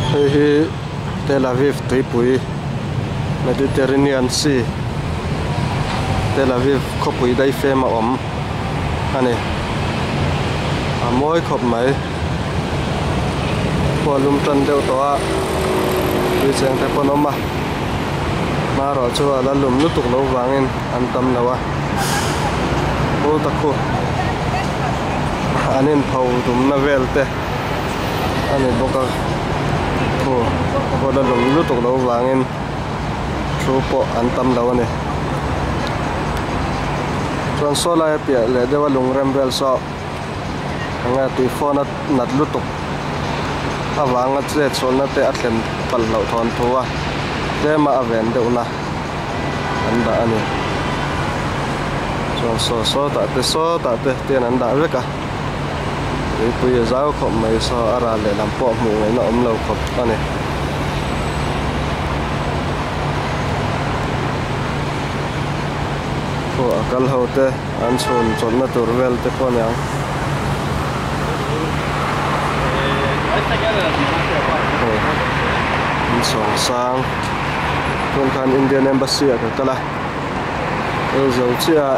Hei hi Tel Aviv tuipui Mediterranean Sea Tel Aviv khawpui daifem a awm a ni. A mawi khawp mai. Khua lum tan deuh tawh a tui cheng te pawn awm a, hma erawh chu a la lum lutuk lo vangin an tam lo a. Ho ta khu an inpho dumna vel te. a ni bawk a thu huan a lawm lutuk lo vangin thu pawh an tam lo a ni chuan saw laia piah leh deuha lungrem vel saw enge tui fawn a nat lutuk a vanga chet chhawnna te a thlen palh hlauh thawn thu a tlem a a ven deuhna an dah a ni chuan saw sawtah te sawtah te te an dah vek a. Tuipui a zau khawp mai saw a ral leh lam pawh hmuh ngaihna awm lo khawp a ni. Khua a kal ho te an chhun chawlhna tur vel te pawh nia. An sawng sang. Hmun khan Indian Embassy ah ka kal a. Aizawl chiah ah.